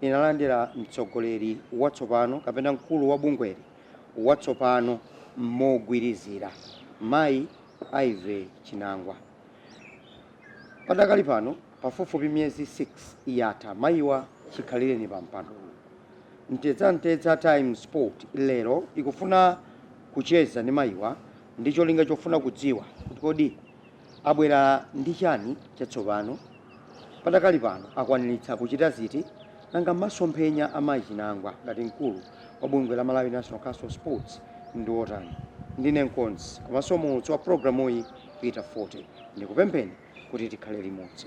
inalandira mtsogoleri watsopano kapena mkulu wa bungweli watsopano mogwirizira, mayi Ivy Chinangwa. Padakali pano pafupifupi miyezi 6 yatha mayiwa chikhalireni pa mpandowu. Mtedzamtedza Times Sport lero ikufuna kucheza ndi mayiwa ndi cholinga chofuna kudziwa kuti kodi Abwera ndi chani chatsopano? Padakali pano akwaniritsa kuchita ziti? Nanga masomphenya a mayi Chinangwa ngati mkulu wa bungwe la Malawi National Council of Sports ndi otani? Ndine mkonzi komanso muulutsi wa pulogalamuyi Peter Fote. Ndikupempheni kuti tikhale limodzi.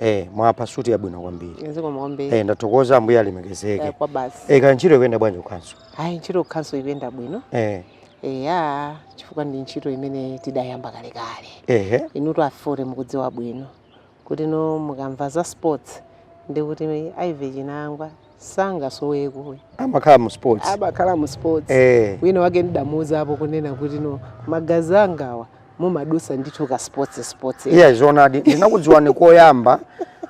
Eh, mwapha suti yabwino kwambiri. Zikomo kwambiri. Eh, ndathokoza ambuye alemekezeke. Eh, kwa basi. Eh, kaya ntchito ikuyenda bwanji ku khanso? Ayi ntchito ku khanso ikuyenda bwino. Eh. Eya, chifukwa ndi ntchito imene tidayamba kale kale. Ehe. Inutu a Fote mukudziwa bwino. Kuti no mukamva za sports ndi kuti Ivy Chinangwa sangasoweko amakhala mu sports amakhala mu sports eh wina wake ndidamuuzapo kunena kuti no magazi angawa mumadutsa ndithu ka sports sports eya zoonadi ndinakudziwani koyamba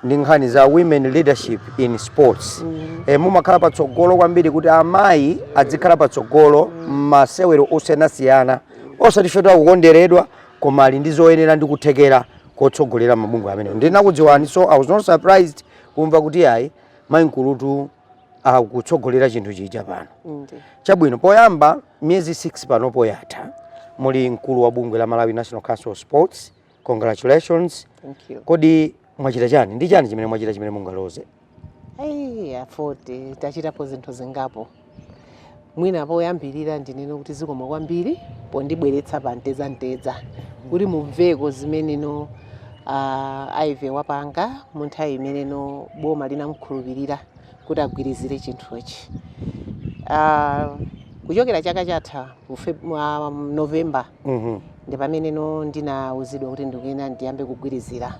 ndi nkhani za women leadership in sports mm. e, mumakhala patsogolo kwambiri kuti amayi adzikhala patsogolo m'masewero mm. osiyanasiyana osati poti akukonderedwa koma ali ndi zoyenera ndi kuthekera kotsogolera mabungwe amene ndinakudziwani so i was not surprised kumva kuti ayi mayi nkulutu akutsogolera chinthu chija pano Ndi. chabwino poyamba miyezi 6 pano poyatha muli mkulu wa bungwe la malawi national council of sports congratulations Thank you. kodi mwachita chani ndi chani chimene mwachita chimene mungaloze Ai, a Fote tachitapo zinthu zingapo. mwina poyambirira ndinene kuti zikomo kwambiri pondibweretsa pa Mtedzamtedza kuti mumveko zimene no ah, a Ivy wapanga mu nthawi imene no boma linamkhulupirira kuti agwirizire chinthuchi Ah, kuchokera chaka chatha mu Feb- mwa novemba Mhm. ndi pamene no ndinauzidwa kuti ndikuyenera ndiyambe kugwirizira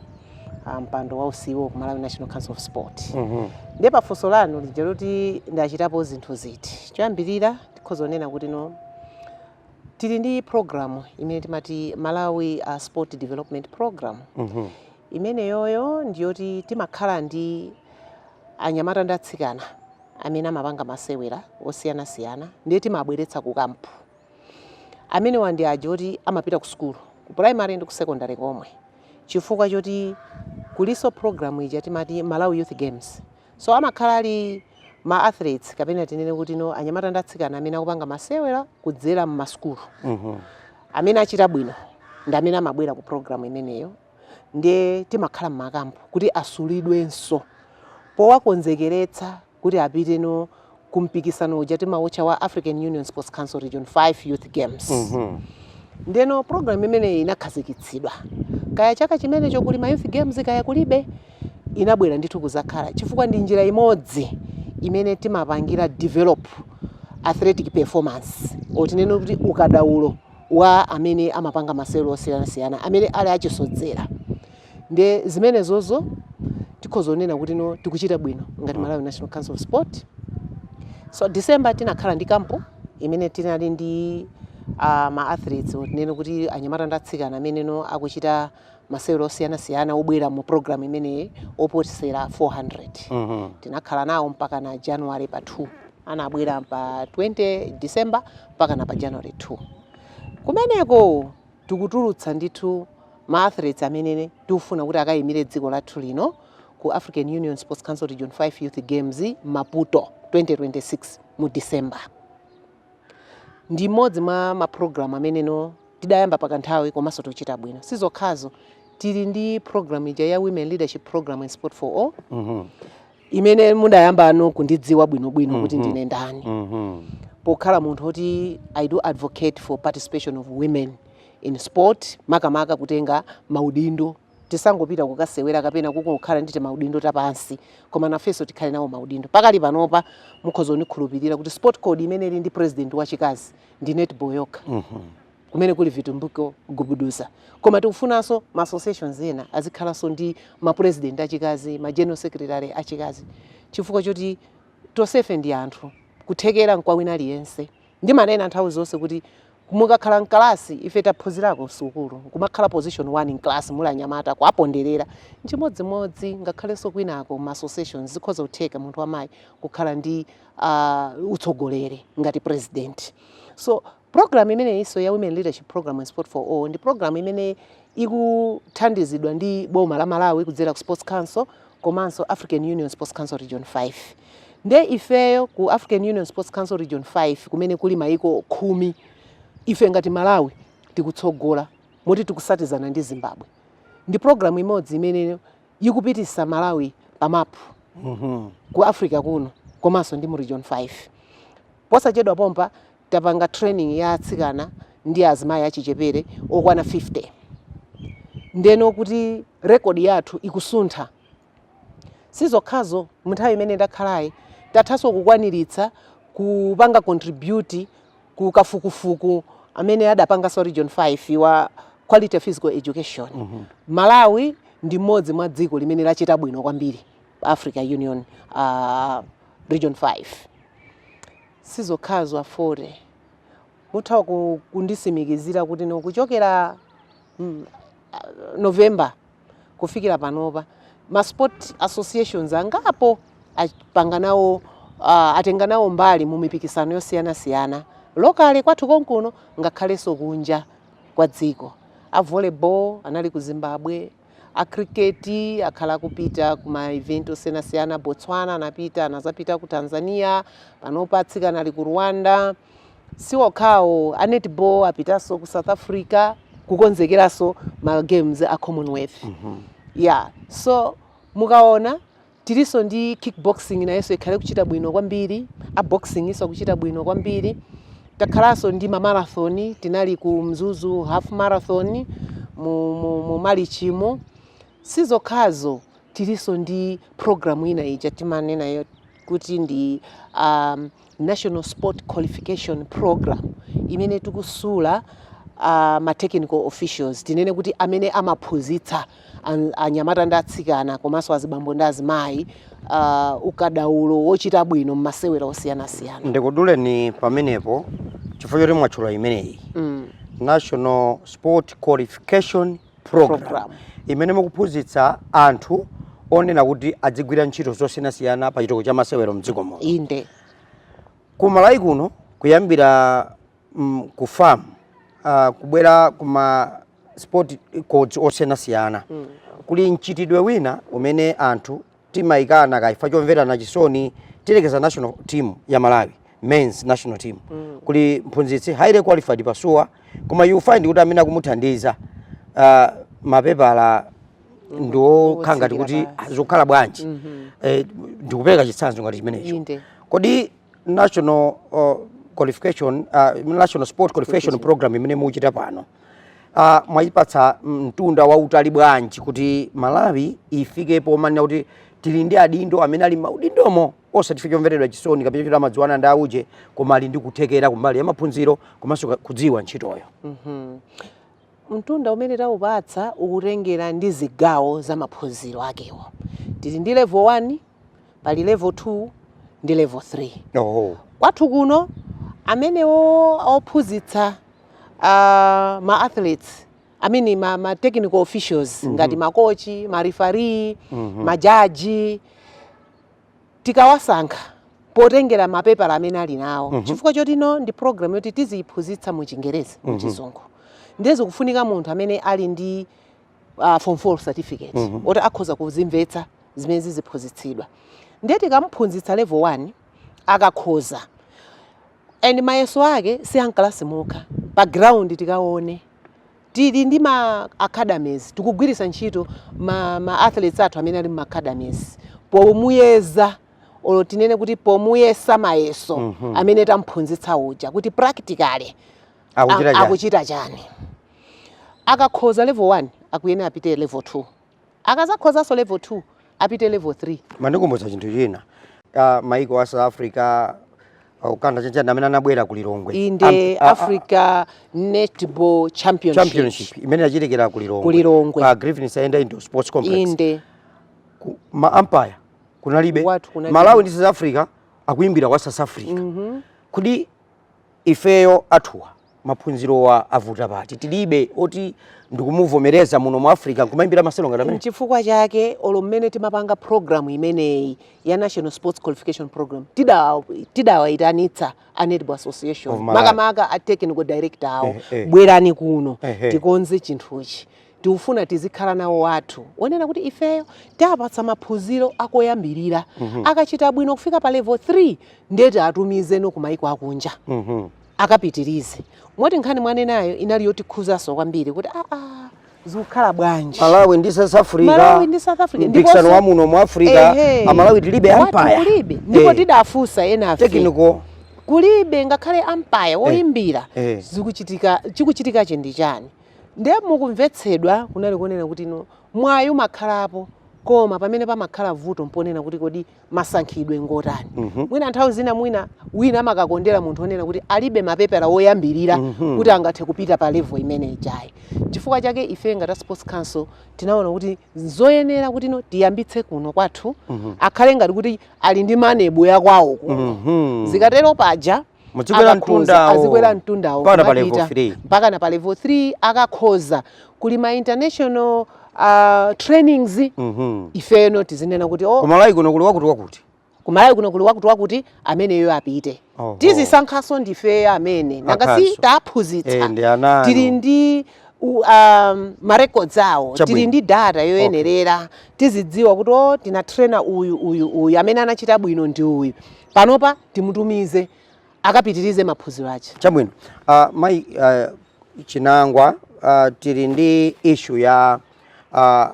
a mpando wa u CEO ku Malawi National Council of Sport Mhm. ndiye pa funso lanu lija loti ndachitapo zinthu ziti choyambirira tikhoza kunena kuti no tili ndi programu imene timati malawi uh, sport development program Mhm. imeneyoyo ndiyoti timakhala ndi anyamata ndi atsikana amene amapanga masewera osiyanasiyana ndiye timabweretsa ku kampu Amenewa ndi aja oti amapita kusukulu, ku primary ndi ku secondary komwe chifukwa choti kulinso program ija timati Malawi Youth Games. So amakhala ali ma athletes kapena tinene kuti no anyamata ndi atsikana amene akupanga masewera kudzera m'masukulu. Amene achita bwino ndi amene amabwera ku program imeneyo ndiye timakhala m'makampu kuti asulidwenso powakonzekeretsa kuti apite no kumpikisano uja timautcha wa African Union Sports Council Region 5 Youth Games mm -hmm. ndeno program imeneyi inakhazikitsidwa kaya chaka chimenecho kuli ma youth games kaya kulibe inabwera ndithu kudzakhala chifukwa ndi njira imodzi imene timapangira develop athletic performance or tinene kuti ukadaulo wa amene amapanga masewero osiyanasiyana amene ali achisodzera Ndiye zimenezozo tikhoza kunena kuti no tikuchita bwino ngati Malawi National Council of Sport. So December tinakhala ndi kampu imene tinali ndi uh, ma athletes tinene kuti anyamata ndi atsikana amene no akuchita masewero osiyanasiyana obwera mu program imeneyi oposera 400 tinakhala nawo mpaka na january pa 2 anabwera pa 20 december mpaka na pa january 2 kumeneko tikutulutsa ndithu ma athletes amene tikufuna kuti akayimire dziko lathu lino ku African Union Sports Council Region 5 Youth Games Maputo 2026 mu December. Ndi imodzi mwa ma program amene no tidayamba pa kanthawi komanso tikuchita bwino. Sizokhazo tili ndi program ija ya Women Leadership Program and Sport for All. Mm -hmm. imene mudayambano kundidziwa bwinobwino mm -hmm. kuti mhm. ndine ndani mm -hmm. pokhala munthu woti i do advocate for participation of women in sport makamaka kutenga maudindo tisangopita kukasewera kapena kukakhala ndi timaudindo tapansi koma nafenso tikhale nawo maudindo pakali panopa mukhoza kundikhulupirira kuti sport code imene ili ndi president wachikazi ndi netball yokha mm -hmm. kumene kuli Vitumbiko Gubuduza koma tikufunanso ma associations ena azikhalanso ndi ma president achikazi ma general secretary achikazi chifukwa choti tonsefe ndi anthu kuthekera nkwa wina aliyense ndimanena nthawi zonse kuti mukakhala mkalasi ife taphunzirako msukulu kumakhala position 1 in class muli anyamata kuwaponderera chimodzimodzi ngakhalenso kwinako ma associations zikhoza kutheka munthu wamayi kukhala ndi uh, utsogoleri ngati president so Program imeneyinso ya Women Leadership Programme and Sport for All ndi program imene ikuthandizidwa ndi boma la Malawi kudzera ku Sports Council komanso African Union Sports Council Region 5. Nde ifeyo ku African Union Sports Council Region 5 kumene kuli mayiko khumi, ife ngati Malawi tikutsogola moti tikutsatizana ndi Zimbabwe. Ndi program imodzi imene ikupititsa Malawi pa mapu ku Africa kuno komanso ndi mu Region 5. Posachedwa pompa tapanga training ya atsikana ndi azimayi achichepere okwana 50 ndeno kuti record yathu ikusuntha sizokhazo munthawi imene ndakhalayi tathanso kukwaniritsa kupanga contribute ku kafukufuku amene adapanganso a region 5 wa quality physical education mm -hmm. malawi ndi mmodzi mwa dziko limene lachita bwino kwambiri africa union uh, region 5 Sizokhazo a Fote, mutha ku kundisimikizira kuti no kuchokera mm ah November kufikira panopa ma sport associations angapo apanga nawo ah atenga nawo mbali mu mipikisano yosiyanasiyana locally kwathu konkuno ngakhalenso kunja kwa dziko. A volleyball anali ku Zimbabwe. a cricket akhala akupita ku ma event osiyanasiyana botswana anapita anazapita ku tanzania panopa atsikana ali ku rwanda si okhawo a netball apitanso ku south africa kukonzekeranso ma games a commonwealth ya so mukaona Tilinso ndi kickboxing nayonso yakhala ikuchita bwino kwambiri, a boxingnso akuchita bwino kwambiri. Takhalanso ndi ma marathon, tinali ku Mzuzu half marathon mu, mu, mu Malichimu. Sizokhazo, tilinso ndi program ina ija timanenayo kuti ndi um, National Sport Qualification Programme imene tikusula ma technical officials tinene kuti amene amaphunzitsa an- anyamata ndi atsikana komanso azibambo ndi azimayi uh, ukadaulo wochita bwino m'masewera osiyanasiyana ndikuduleni pamenepo chifukwa choti mwatchula imeneyi mm. national sport qualification program imene mukuphunzitsa anthu onena kuti adzigwira ntchito zosiyanasiyana pa chitukuko cha masewero mdziko muno inde ku malawi kuno kuyambira mm, ku FAM uh, kubwera kuma sport codes osiyanasiyana kuli mchitidwe wina umene anthu timaikana kaya chifukwa chomverana chisoni tiyerekeze national team ya malawi men's national team mm. kuli mphunzitsi highly qualified pasuwa koma you find kuti amene akumuthandiza uh, mapepala mm-hmm. ndiokhala ngati kuti zokhala bwanji mm -hmm. eh, ndikupereka chitsanzo ngati chimenecho kodi national uh, qualification uh, national sport qualification program imene muchita pano uh, mwayipatsa mtunda wautali bwanji kuti Malawi ifike pomanena kuti tili ndi adindo amene ali m'maudindomo osati chifukwa chomveredwa chisoni kapena choti amadziwana ndi auje koma ali ndi kuthekera kumbali ya maphunziro komanso kudziwa ntchitoyo mm -hmm. Mtunda umene taupatsa ukutengera ndi zigawo za maphunziro akewo. Tili ndi level 1, pali level 2 ndi level 3. Oho. Kwathu kuno amenewo ophunzitsa ma athletes I mean ma, ma technical officials ngati makochi, ma referee, majaji tikawasankha potengera mapepala amene ali nawo mm -hmm. chifukwa chotino ndi program yoti tiziyiphunzitsa mu chingerezi mu mhm. chizungu mm -hmm. ndiye zikufunika munthu amene ali ndi uh, form 4 certificate mm -hmm. oti akhoza kuzimvetsa zimene ziziphunzitsidwa ndiye tikamuphunzitsa level 1 akakhoza And mayeso ake si a mkalasi mokha, pa ground tikaone tili ndi ma academies tikugwiritsa ntchito ma athletes athu amene ali mu academies pomuyeza or tinene kuti pomuyesa mayeso amene tamphunzitsa uja kuti practically akuchita chani akakhoza level 1 akuyenera apite level 2 Akazakhozanso level 2 apite level 3. Mandikumbutsa chinthu china maiko a South Africa Uganda chanchani amene anabwera ku Lilongwe inde Africa Netball Championship, Championship imene yachitikira ku Lilongwe, ku Lilongwe. pa Griffin Saenda Indoor Sports Complex inde ku, ma umpire kunalibe Malawi ndi South Africa akuimbira wa South Africa mm -hmm. kudi Ifeyo athuwa maphunzirowa avuta pati? Tilibe oti ndikumuvomereza muno mu Africa nkumayimbira masewero ngati amene? Nchifukwa chake olo mmene timapanga program imeneyi ya National Sports Qualification Program tidawayitanitsa a Netball Association makamaka a technical director awo eh, eh. bwerani kuno eh, eh. tikonze chinthuchi tikufuna tizikhala nawo athu onena kuti ifeyo taapatsa maphunziro akoyambirira mm -hmm. akachita bwino kufika pa level 3 nde tiatumizeno ku maiko akunja mm -hmm. akapitirize moti nkhani mwanenayo inali yotikhuzanso kwambiri kuti aa ah, ah, zikukhala bwanji malawi ndi south africa malawi ndi south africa mpikisano wa muno mu africa eh, amalawi tilibe umpire kulibe ndipo eh. tidafunsa ena a technical kulibe ngakhale umpire eh, woyimbira eh. zikuchitika chikuchitikachi ndi chani Ndiye mu kumvetsedwa kunali konena kuti, no, mwayi umakhalapo, koma pamene pamakhala vuto mponena kuti kodi masankhidwe ngotani. Mwina nthawi zina mwina wina amakakondera munthu onena kuti alibe mapepa oyambirira kuti angathe kupita pa level imene ijayi. Chifukwa chake ife ngati a Sports Council tinaona kuti nzoyenera kuti no tiyambitse kuno kwathu akhale ngati kuti ali ndi manebo ya kwawo kuno. Zikatero paja. azikwera mtundawo Mpaka pa level three. mpaka na pa level 3 akakhoza kuli ma international uh, trainings Mhm. ifeno tizinena kuti oh, ku Malawi kuno kuli wakuti wakuti ku Malawi kuno kuli wakuti wakuti ameneyo apite Oho. tizisankhaso ndife amene nanga si taphunzitsa tili ndi u- um, marecords awo Chabwino. tili ndi data yoyenerera tizidziwa kuti o tinatrena uyu uyu uyu amene anachita bwino ndi uyu Panopa timutumize akapitirize maphunziro ache. Chabwino. Uh, mai uh, Chinangwa uh, tili ndi issue ya uh,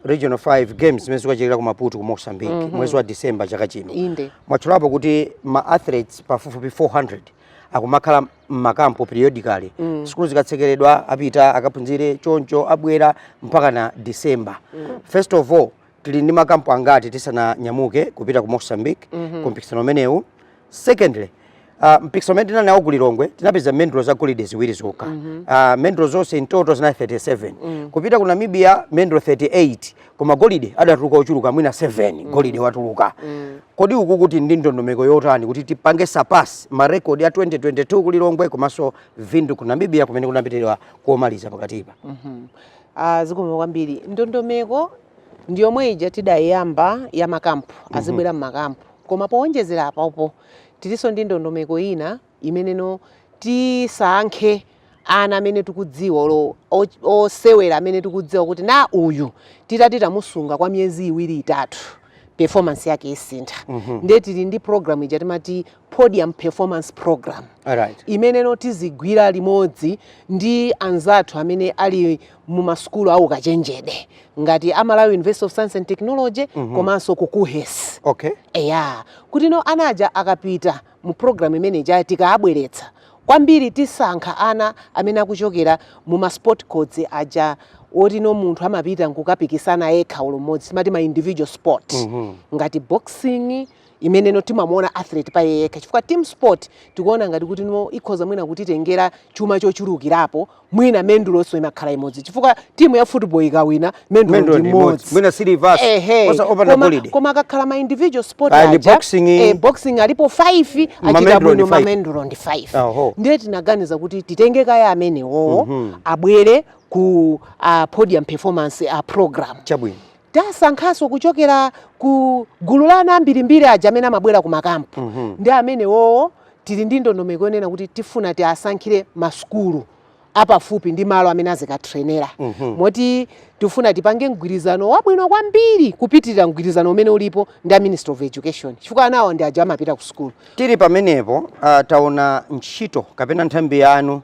Regional 5 Games zimene zikachitikire ku Maputo ku Mozambique mm -hmm. mwezi wa December chaka chino. Inde. Mwatchulapo kuti ma athletes pafupifupi 400 akumakhala mmakampo periodically mm. sukulu zikatsekeredwa apita akaphunzire choncho abwera mpaka na December mm. first of all tili ndi makampu angati tisananyamuke kupita ku Mozambique mm -hmm. ku mpikisano umenewu secondly Uh, mpikisano umene tinali nawo ku Lilongwe tinapeza mendulo za golide ziwiri zokha mm -hmm. uh, mendulo zonse in total zinali 37 mm -hmm. kupita ku Namibia mendulo 38 koma golide adatuluka ochuluka mwina 7 mm -hmm. golide anatuluka mm -hmm. kodi uku tili ndi ndondomeko yotani kuti tipange surpass ma record ya 2022 ku Lilongwe komanso Windhoek ku Namibia kumene kunapitidwa komaliza pakatipa mm -hmm. Ah, zikomo kwambiri ndondomeko ndi yomwe ija tidayamba ya makampu azibwera mmakampu koma powonjezera apapo tilinso ndi ndondomeko ina imeneno tisankhe ana amene tikudziwa olo o- osewera amene tikudziwa kuti no uyu titati tamusunga kwa miyezi iwiri itatu performance yake isintha ndiye tili ndi program ija timati podium performance program right. imeneno tizigwira limodzi ndi anzathu amene ali mu masukulu a ukachenjede ngati a Malawi university of science and technology mm -hmm. komanso ku KUHES okay. eya kuti no ana aja akapita mu program imene ija tikaabweretsa kwambiri tisankha ana amene akuchokera mu ma sport codes aja oti no munthu amapita nkukapikisana yekha olo mmodzi timati ma individual sport mm -hmm. ngati boxing imeneno timamuona athlete pa iye yekha chifukwa team sport tikuona ngati kuti no ikhoza mwina kutitengera chuma chochulukirapo mwina mendulonso imakhala imodzi chifukwa timu ya football ikawina mendulo Mendulo ndi imodzi. Mwina silivers, Ehe. osa- opanda Koma- golide. koma akakhala ma individual sport Ah, aja, boxing. eh, boxing alipo 5 achita bwino ma mendulo ndi 5 Aho. ndiye tinaganiza kuti titenge kaya amenewowo abwere ku ah, podium performance program Chabwino. Tasankhanso kuchokera ku gulu la ana ambirimbiri aja amene amabwera ku makampu mm -hmm. ndi amenewowo tili ndi ndondomeko yonena kuti tifuna tiasankhire masukulu apafupi ndi malo amene azikatrenera mm -hmm. moti tifuna tipange mgwirizano wabwino kwambiri kupitirira mgwirizano umene ulipo ndi a Ministry of Education chifukwa anawo ndi aja amapita ku sukulu. Tili pamenepo uh, taona ntchito kapena nthambi yanu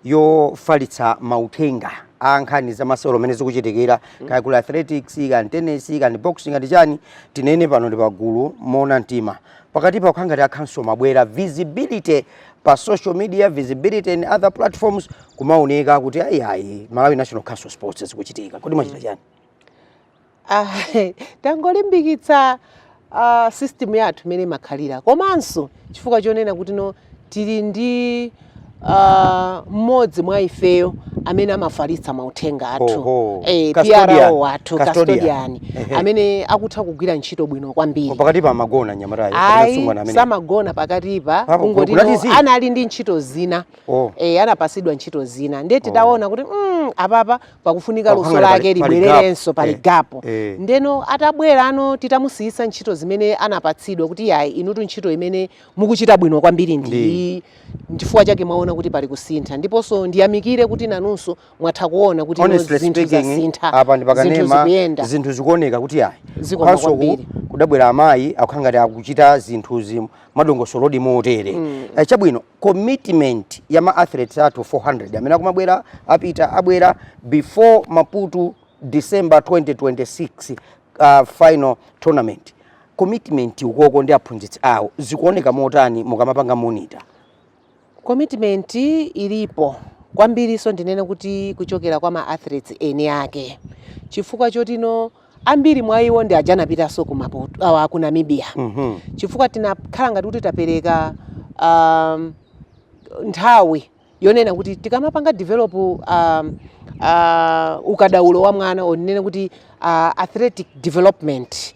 yofalitsa mauthenga a nkhani za masewero mmene zikuchitikira mm. kaya kuli athletics kaya tennis kaya boxing kaya chani tinene pano ndi pagulu moona mtima pakatipa kukhangati ankhasowa bwerani visibility pa social media visibility and other platforms kumaoneka kuti ayiayi malawi national council of sports zikuchitika kodi mwachita mm. chani Ah, tangolimbikitsa ah, system yathu imene imakhalira komanso chifukwa chonena kuti no tili ndi ah, mmodzi mwa ifeyo amene amafalitsa mauthenga athu Oho. eh, Custodian. PRO wathu Custodian. custodian Ehe. amene akutha kugwira ntchito bwino kwambiri pakatipa amagona nyamatayo kapena ayi msungwana amene samagona pakatipa Apo, kungoti no, kunati zii. anali ndi ntchito zina Oh. eh, anapatsidwa ntchito zina ndiye tidaona kuti mm, apapa pakufunika luso Pakufunika lake pali- pali libwererenso gap. pali Eh, gapo eh. ndeno atabwera ano titamusiyisa ntchito zimene anapatsidwa kuti yayi inutu ntchito imene mukuchita bwino kwambiri ndi Ndi. iyi chifukwa chake mwaona kuti pali kusintha ndiponso ndiyamikire kuti nanunso mwatha kuona kuti no honestly zinthu speaking zasintha apa ndi zinthu pakanema zikuyenda zinthu zikuoneka kuti ayi Zikoma Komanso ku- kwambiri. kudabwera amayi akukhala ngati akuchita zinthuzi mwadongosolodi motere Eh, chabwino commitment ya ma athletes athu 400 amene akumabwera apita abwera before maputo december 2026 uh, final tournament commitment ukoko ndi aphunzitsi awo zikuoneka motani mukamapanga monitor commitment ilipo kwambiri so ndinene kuti kuchokera kwa ma athletes eni ake chifukwa choti no ambiri mwa iwo ndi aja anapitanso ku Maputo awa ku Namibia Mhm. chifukwa tinakhala ngati kuti tapereka um, nthawi yonena kuti tikamapanga develop um, uh, ukadaulo wa mwana wonena kuti uh, athletic development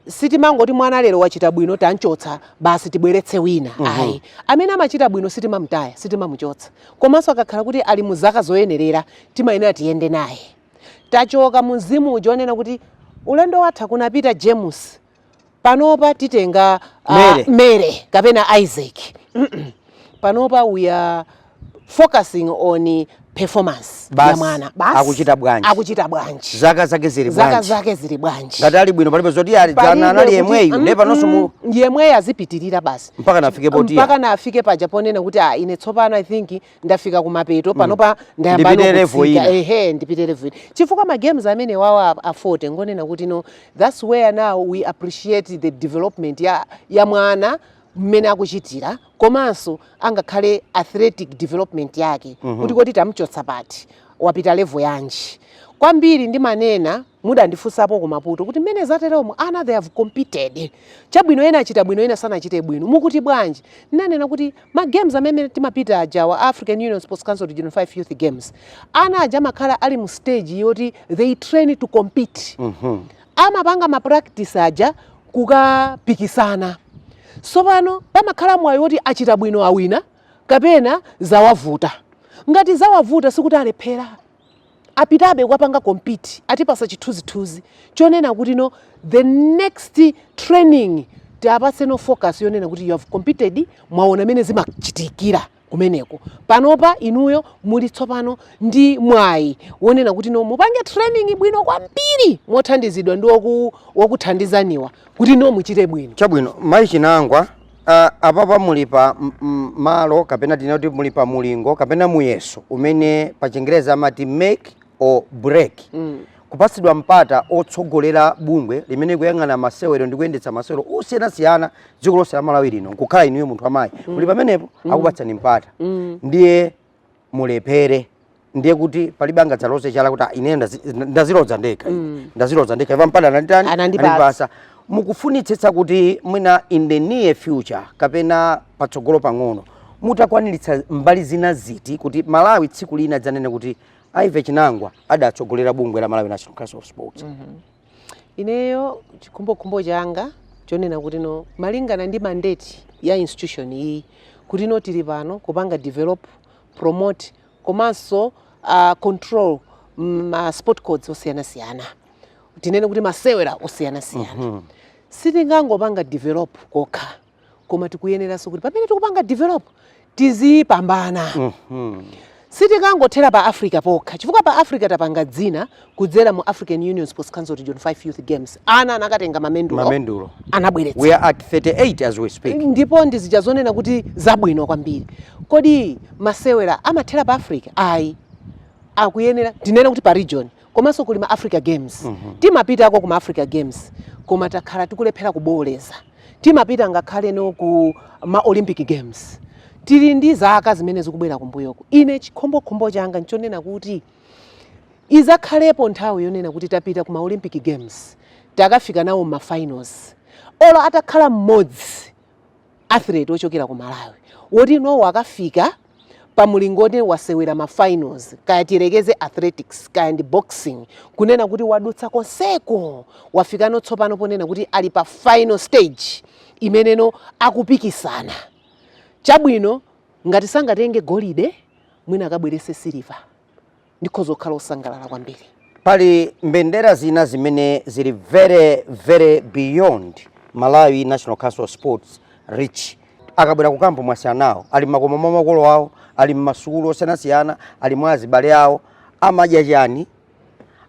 sitimangoti mwana lero wachita bwino tamchotsa basi tibweretse wina ayi amene amachita bwino sitimamtaya sitimamuchotsa komanso akakhala kuti ali mu zaka zoyenerera timayenera tiyende naye tachoka mu mzimu uja onena kuti ulendo watha kunapita James panopa titenga uh, Mary. Mary kapena Isaac mm -mm. panopa we are focusing on performance Bas, ya mwana basi akuchita bwanji akuchita bwanji zaka zake zili bwanji zaka zake zili bwanji ngati ali bwino palibe zoti ah jana anali yemweyo mm, ndipo panonso yemweyo azipitirira basi mpaka nafike poti mpaka nafike paja ponena kuti ah ine tsopano i think ndafika kumapeto mm. panopa ndayamba ehe ndipite level ina chifukwa ma games amene wawa a 40 ngonena kuti no that's where now we appreciate the development ya, ya mwana mmene akuchitira komanso angakhale athletic development yake mm -hmm. kuti koti tamchotsa pati wapita level yanji kwambiri ndimanena Mudandifunsapo ku Maputo kuti mmene zateromu ana they have competed chabwino ena achita bwino ena sanachite bwino mukuti bwanji? Ndinanena kuti ma games amene timapita ajawa a African Union Sports Council Region 5 Youth Games ana aja amakhala ali mu stage yoti they train to compete mm -hmm. amapanga ma practice aja kukapikisana so pano pamakhala mwayi woti achita bwino awina kapena zawavuta ngati zawavuta sikuti alephera apitabe kukapanga compete atipasa chithunzithunzi chonena kuti no the next training tiapatseno focus yonena kuti you have competed mwaona mene zimachitikira kumeneko panopa inuyo muli tsopano ndi mwayi wonena kuti no mupange training bwino kwambiri mothandizidwa ndi woku- wokuthandizaniwa kuti no muchite bwino chabwino mayi chinangwa Uh, apapa muli pa malo kapena tinena kuti muli pa mulingo kapena muyeso umene pa chingereza amati make or break mm. kupatsidwa mpata otsogolera bungwe limene kuyang'ana masewero ndi kuyendetsa masewero osiyanasiyana dziko lonse la Malawi lino nkukhala inuyo munthu amayi mm. muli pamenepo mm. akupatsani mpata mm. ndiye mulephere ndiye kuti palibe angadzaloze chala kuti "Ah, ineyo ndazi- ndazilodza ndekha Mm. ndazilodza ndekha Ivy mpata ananditani Anandipatsa. Anandipatsa. mukufunitsitsa kuti mwina in the near future kapena patsogolo pang'ono mutakwaniritsa mbali zina ziti kuti malawi tsiku lina adzanene kuti Ivy chinangwa adatsogolera bungwe la malawi national council of sports Ineyo chikhumbokhumbo changa nchonena kuti no malingana ndi mandate ya institution iyi kuti no tili pano kupanga develop, promote komanso uh, control ma sport codes osiyanasiyana tinene kuti masewera osiyanasiyana mm -hmm. sitingangopanga develop kokha koma tikuyeneranso kuti pamene tikupanga develop tizipambana mm -hmm. sitikangothera pa africa pokha chifukwa pa africa tapanga dzina kudzera mu african union sports council region 5 youth games ana anakatenga mamendulo, mamendulo. anabweretsa we are at 38 as we speak ndipo ndizija zonena kuti zabwino kwambiri kodi masewera amathera pa africa ayi akuyenera tinene kuti pa region komanso kuli ma africa games mm -hmm. timapitako ku ma africa games koma takhala tikulephera kubooleza timapita ngakhale no ku ma olympic games tili ndi zaka zimene zikubwera kumbuyoku ine chikhumbokhumbo changa nchonena kuti izakhalepo nthawi yonena kuti tapita ku ma olympic games takafika nawo ma finals olo atakhala mmodzi athlete ochokera ku malawi woti inuyo akafika pa mulingo oti wasewera ma finals kaya tiyerekeze athletics kaya ndi boxing kunena kuti wadutsa konseko wafikano tsopano ponena kuti ali pa final stage imeneno akupikisana chabwino ngati sangatenge golide mwina akabwerese siliva ndikhoza kukhala osangalala kwambiri pali mbendera zina zimene zili very very beyond malawi national council of sports reach akabwera kukampu mwasiyana nawo ali mmakomo mwa makolo awo ali mmasukulu osiyanasiyana ali mwa azibale awo amadya chani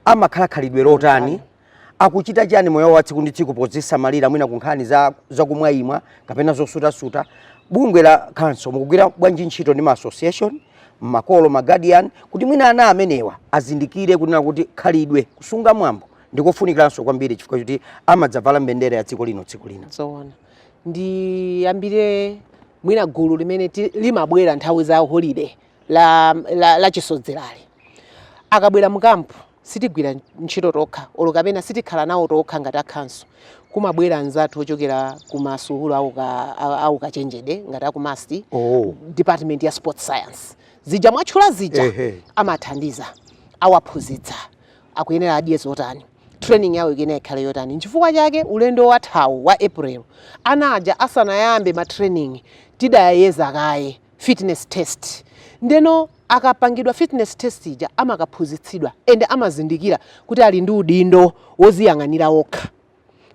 amakhala khalidwe lotani akuchita chani moyo wa tsiku ndi tsiku podzisamalira mwina kunkhani za zakumwaimwa kapena zosutasuta bungwe la khanso mukugwira bwanji ntchito ndi ma association makolo ma guardian kuti mwina ana amenewa azindikire kunena kuti khalidwe kusunga mwambo ndikofunikiranso kwambiri chifukwa choti amadzavala mbendera ya dziko lino tsiku lina zoona ndiyambire mwina gulu limene limabwera nthawi za holiday la chisodzerali akabwera mukampu sitigwira ntchito tokha olo kapena sitikhala nawo tokha ngati a khanso kumabwera anzathu ochokera ku masukulu auka- a- aukachenjede ngati a ku MUST oh. department ya sports science zija mwatchula zija Ehe. amathandiza awaphunzitsa akuyenera adye zotani training yawo ikuyenera ikhale yotani nchifukwa chake ulendo wathawu wa april ana aja asanayambe ma training tidayeza kaye fitness test ndeno akapangidwa fitness test ija amakaphunzitsidwa and amazindikira kuti ali ndi udindo woziyang'anira okha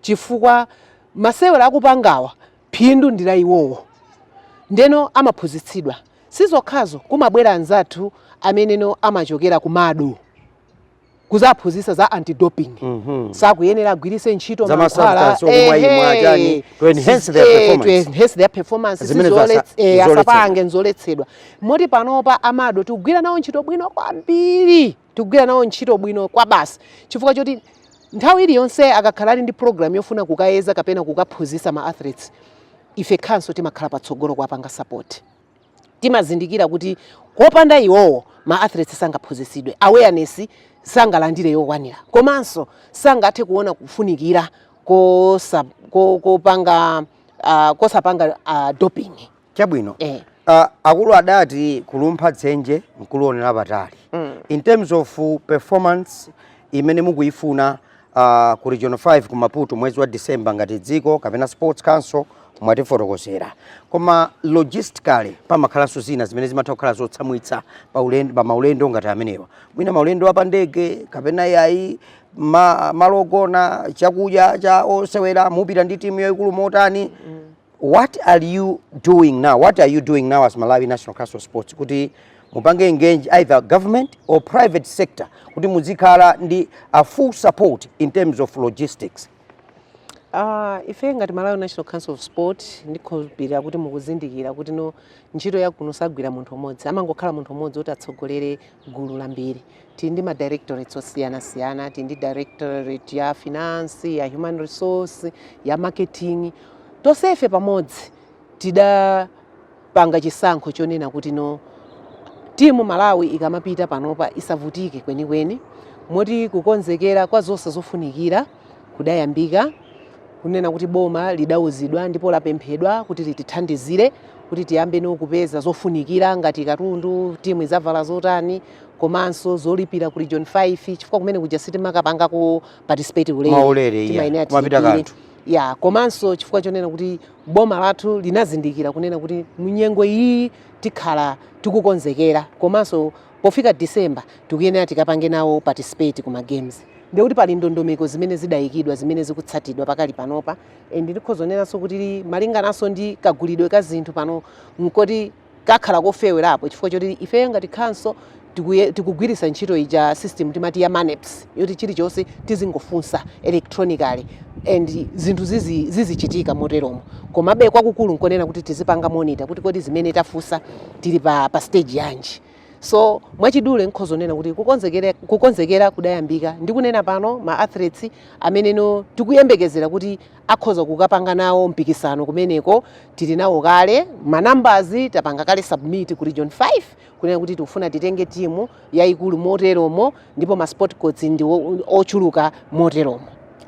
chifukwa masewera akupangawa phindu ndi la iwowo ndeno amaphunzitsidwa sizokhazo kumabwera anzathu ameneno amachokera ku MADO kudzaphunzitsa za anti doping Mhm. sakuyenera agwiritse ntchito Za ma mankhwala, substance okumwa ehe, imwe achani, to enhance si- their eh, performance. to enhance their performance, Zimene si zasa- zolets- eh, zoletsedwa. asapange zoletsedwa moti panopa a MADO tikugwira nawo ntchito bwino kwambiri tikugwira nawo ntchito bwino kwa basi chifukwa choti nthawi iliyonse akakhala ali ndi program yofuna kukayeza kapena kukaphunzitsa ma athletes ife khanso timakhala patsogolo kuwapanga support timazindikira kuti kopanda iwowo ma athletes sangaphunzitsidwe awareness sangalandire yokwanira komanso sangathe kuona kufunikira kosa, ko, kopanga uh, kosapanga uh, doping chabwino eh. Uh, akulu adati kulumpha dzenje nkulionera patali mm. in terms of performance imene mukuifuna uh, ku region 5 ku Maputo mwezi wa December ngati dziko kapena sports council mwatifotokozera koma logistically pamakhalanso zina zimene zimatha kukhala zotsamwitsa pa ulendo pa maulendo ngati amenewa mwina maulendo apa ndege kapena yayi ma, malogona chakudya cha osewera mupita ndi timu yayikulu motani mm. What are you doing now? What are you doing now as Malawi National Council of Sports? Kuti mupange engage either government or private sector kuti muzikhala ndi a full support in terms of logistics. Uh, ife ngati Malawi National Council of Sport ndikhulupirira kuti mukuzindikira kuti no ntchito yakuno sagwira munthu umodzi amangokhala munthu umodzi kuti atsogolere gulu lambiri Tili ndi ma directorates osiyanasiyana, tili ndi directorate ya finance, ya human resource, ya marketing, tonsefe pamodzi tidapanga chisankho chonena kuti no, timu Malawi ikamapita panopa isavutike kwenikweni, moti kukonzekera kwa zonse zofunikira kudayambika, kunena kuti boma lidauzidwa ndipo lapemphedwa kuti litithandizire kuti tiyambe no kupeza zofunikira ngati katundu, timu idzavala zotani, komanso zolipira ku region 5 chifukwa kumene kuja sitimakapanga ku participate ulere maulere iya timayenera kumapita tilipire kanthu ya komanso chifukwa chonena kuti boma lathu linazindikira kunena kuti munyengo iyi tikhala tikukonzekera komanso pofika december tikuyenera tikapange nawo participate ku ma games ndiye kuti pali ndondomeko zimene zidayikidwa zimene zikutsatidwa pakali panopa and ndikhoza kunenanso kuti malingananso ndi kagulidwe ka zinthu pano nkoti kakhala kofewerapo chifukwa choti ifeyo ngati khanso tikuye- tikugwiritsa ntchito ija system timati ya maneps yoti chilichonse tizingofunsa electronically and zinthu zizi- zizichitika moteromo komabe kwakukulu nkonena kuti tizipanga monitor kuti kodi zimene tafunsa tili pa, pa stage yanji so mwachidule nkhoza kunena kuti kukonzekera, kukonzekera kudayambika ndikunena pano ma athletes amene no tikuyembekezera kuti akhoza kukapanga nawo mpikisano kumeneko. Tili nawo kale ma numbers, tapanga kale submit ku region 5 kunena kuti tikufuna titenge timu yayikulu moteromo, ndipo ma sport codes ndi ochuluka moteromo.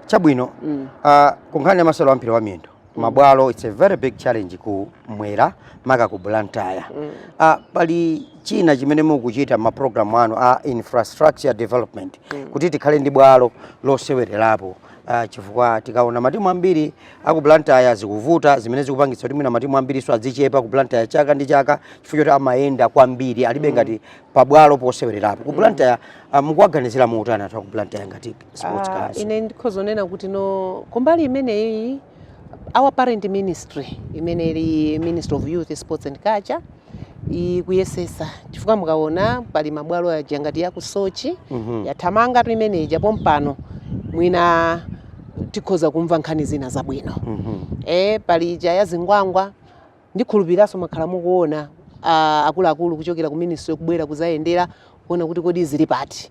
Chabwino. mm. Uh, kunkhani ya masewero a mpira wa miyendo mm. mabwalo it's a very big challenge kummwera maka ku Blantyre mm. uh, pali china chimene mukuchita ma program anu a infrastructure development mm. kuti tikhale ndi bwalo losewererapo Uh, chifukwa tikaona matimu ambiri aku Blantyre zikuvuta zimene zikupangitsa kuti mwina matimu ambirinso adzichepa ku Blantyre chaka ndi chaka chifukwa choti amayenda kwambiri alibe mm. ngati pabwalo posewererapo ku mm. Blantyre uh, ah, mukuwaganizira motani anthu aku Blantyre ngati sports uh, ine ndikhoza kunena kuti no kumbali imeneyi our parent ministry imene ili ministry of youth sports and culture ikuyesesa chifukwa mukaona pali mabwalo aja ngati ya ku Soche Mhm. yathamangatu imene ija pompano mwina tikhoza kumva nkhani zina zabwino Mhm. e pali ija ya Zingwangwa Ndikhulupiriranso mwakhala mukuona a akuluakulu kuchokera ku ministry kubwera kuzayendera kuona kuti kodi zili pati.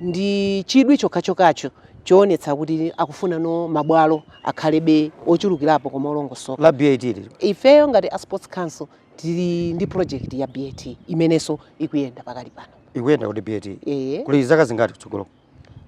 Ndi chidwi chokhachokhacho choonetsa kuti akufunano mabwalo akhalebe ochulukirapo koma olongosoka. la BAT lija. Ifeyo ngati a Sports Council tili ndi project ya BAT imenenso ikuyenda pakali pano. Ikuyenda kuti BAT? Eeh. Kuli zaka zingati kutsogoloku?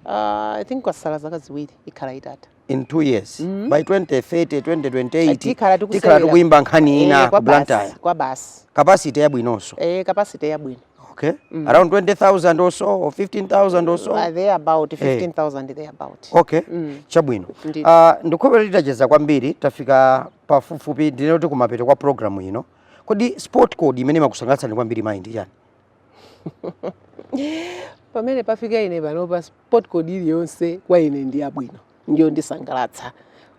Aah I think kwasala zaka ziwiri ikhala itatha. in two years mm -hmm. by 2030 2028 tikhala tikuyimba nkhani eh, ina ku Blantyre kwa basi capacity yabwinonso eh capacity yabwino okay mm. around 20000 or so or 15000 or so uh, there about 15000 hey. there about okay mm. chabwino uh, ndikhumba titacheza kwambiri tafika pafupifupi ndinene kuti kumapeto kwa program ino kodi sport code imene imakusangalatsani kwambiri mayi ndi chani pamene pafika ine panopa Sport code iliyonse kwa ine ndi yabwino ndiyondisangalatsa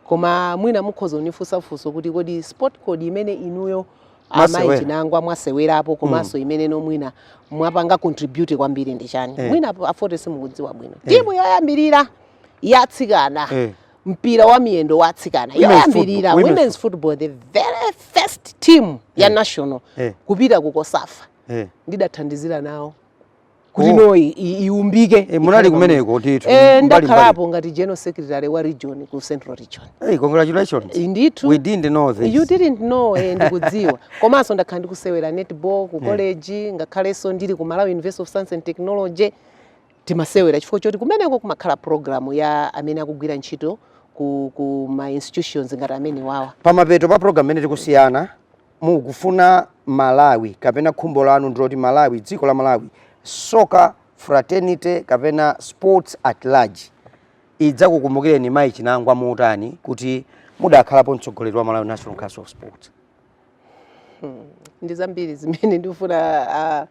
koma mwina mukhoza kunifunsa funso kuti kodi sport code imene inuyo amayi chinangwa mwasewerapo komanso mm. imene no mwina mwapanga contribute kwambiri ndi chani eh. mwina a Fote simukudziwa bwino eh. timu yoyambirira ya atsikana eh. mpira wa miyendo wa atsikana yoyambirira women's football the very first team ya eh. national eh. kupita ku COSAFA eh. ndidathandizira nawo kuti Oh. no i- i- iumbike Eh, munali ikhale kumeneko pamodzi. ndithu, Eh, mbali- mbali. ndakhalapo ngati general secretary wa region ku central region hey, congratulations Eh, ndithu we didn't know this you didn't know eh, ndikudziwa komanso ndakhala ndikusewera netball ku college ngakhalenso ndili ku malawi university of science and technology timasewera chifukwa choti kumeneko kumakhala programu ya amene akugwira ntchito ku, ku ma institutions ngati amenewawa pamapeto pa program imene tikusiyana mukufuna Malawi kapena khumbo lanu ndiloti Malawi dziko la Malawi soccer fraternity kapena sports at large idzakukumbukireni mayi Chinangwa motani kuti mudakhalapo mtsogoleri wa Malawi National Council of Sports? Hmm. Ndi zambiri zimene ndikufuna uh,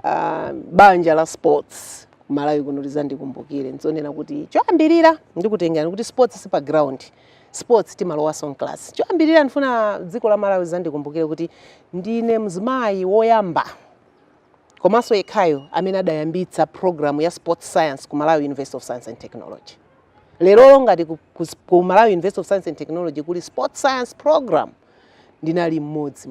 uh, banja la sports ku Malawi kuno lizandikumbukire nzonena kuti choyambirira ndikutengerani kuti sports si pa ground sports timalowanso m'class choyambirira ndifuna dziko la malawi lizandikumbukire kuti ndine mzimayi woyamba komanso yekhayo amene adayambitsa programu ya sports science ku malawi university of science and technology lero ngati ku, ku, ku malawi university of science and technology kuli sports science program ndinali mmodzi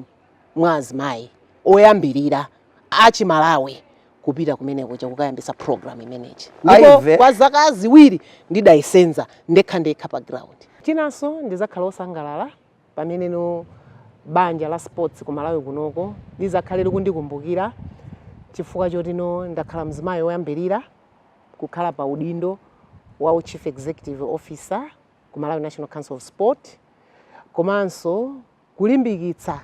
mwa azimayi oyambirira achimalawi kupita kumene kuja kukayambisa program imeneji ndipo Aive. kwa zaka ziwiri ndidayisenza ndekha ndekha pa ground chinanso ndizakhala osangalala pamene no banja la sports ku malawi kunoko lizakhale likundikumbukira chifukwa choti no ndakhala mzimayi woyambirira kukhala pa udindo wa u chief executive officer ku malawi national council of sport komanso Kulimbikitsa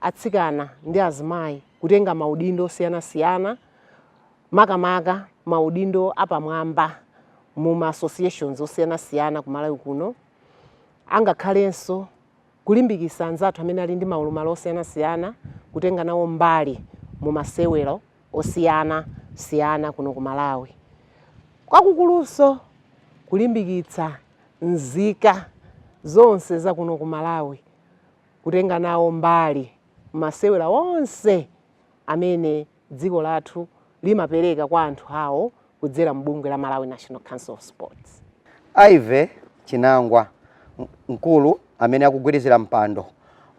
atsikana ndi azimayi kutenga maudindo osiyanasiyana makamaka maudindo apamwamba mu ma associations osiyanasiyana ku Malawi kuno angakhalenso kulimbikitsa anzathu amene ali ndi maulumali osiyanasiyana kutenga nawo mbali mu masewero osiyana siyana kuno ku Malawi. Kwakukulunso kulimbikitsa nzika zonse za kuno ku Malawi kutenga nawo mbali mmasewero onse amene dziko lathu limapereka kwa anthu awo kudzera m'bungwe la Malawi National Council of Sports. Ivy Chinangwa, mkulu amene akugwirizira mpando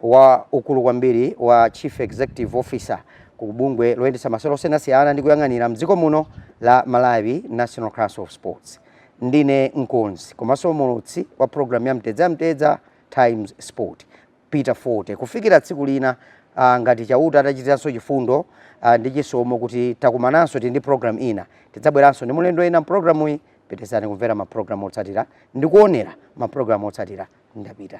wa ukulu kwambiri wa Chief Executive Officer ku bungwe loyendetsa masewero osiyanasiyana ndi kuyang'anira mdziko muno la Malawi National Council of Sports. Ndine mkonzi komanso mulutsi wa programu ya Mtedza ya Mtedza Times Sport. Peter Fote. Kufikira tsiku lina, ah, ngati Chauta atachitiranso chifundo, ah, ndi chisomo kuti takumananso tili ndi program ina, tidzabweranso ndi mulendo wina mprogramuyi. Pitirizani kumvera ma program otsatira ndi kuonera ma program otsatira. Ndapita.